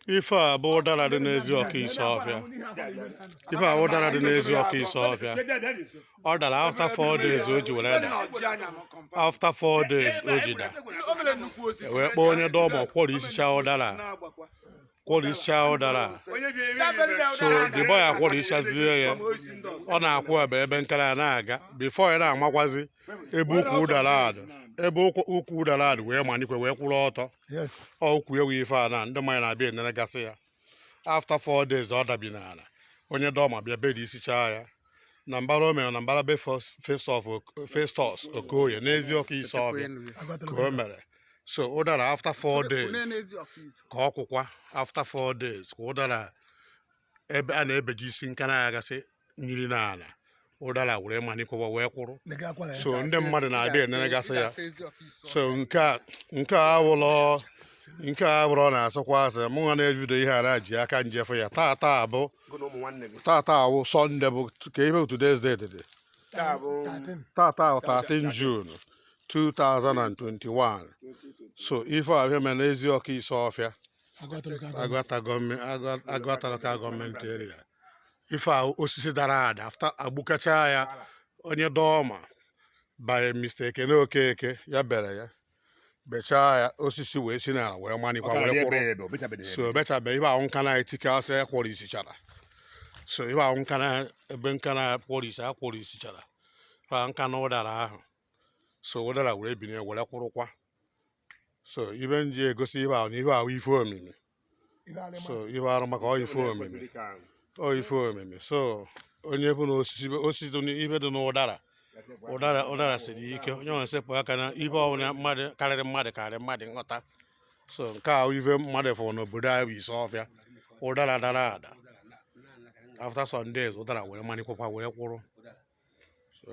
ife a bụ ụdara dị n'eziọka isuọfịa ife a bụ ụdara dị n'eziọka isuọfịa ọ dara after four days o ji were da after four days o ji da e wee kpọọ onye dọọma kwọrisicha ụdara kwọrisicha ụdara so the boy akwọrisichazie ya ọ na-akwụ ebe ebe nkara ya na-aga before a na-amakwazi ebe ukwu ụdara a dụ ebe ukwu ụdara a dụ wee manikwa wee kwụrụ ọtọ ọ ukwu ewu ife a na ndị mmadụ na-abịa enenegasị ya after four days ọ dabi n'ala onye dọọma bịa berisichaa ya na mbara o mere na mbara be festus okoye n'eziọka isuọfịa ka o mere so ụdara after four days ka ọ kwụkwa after four days ka ụdara ebe a na-ebejisi nka na-agasị yiri n'ala ụdara were manikwa wee kwụrụ so ndị mmadụ na-abịa enenegasị ya so nke a nke a awụlọ nke a abụrọ na-asọkwa asị mụ nwa na-evideo ihe a na-ji aka m je fụ ya taa taa abụ taa taa awụ Sunday bụ ka ihe bụ today's date dị taa taa awụ 13 June 2021 so ife a bịa mere n'eziọka isuọfịa agụata local government area ife a osisi dara ada after agbukacha ya onye dọọma bụ mr ekene okeke ya bere ya bechaa ya osisi wee si n'ala wee manikwa wee kwụrụ so bechabe ife ahụ nka na-etike asị ya kwọrisichara so ife ahụ nka na ebe nka na kwọrisi a kwọrisichara ife ahụ nka na ụdara ahụ so ụdara were binie were kwụrụkwa so ife m ji egosi ife ahụ na ife a wụ ife omimi so ife arụ maka ọ ife omimi ọ ife omimi so onye ọbụna osisi osisi dị n'ife dị n'ụdara ụdara ụdara siri ike onye nwere sepụ aka na ife ọbụla mmadụ karịrị mmadụ karịrị mmadụ nghọta so nke a ife mmadụ fụrụ n'obodo anyị bụ isuọfịa ụdara dara ada after some days ụdara were manikwukwa were kwụrụ so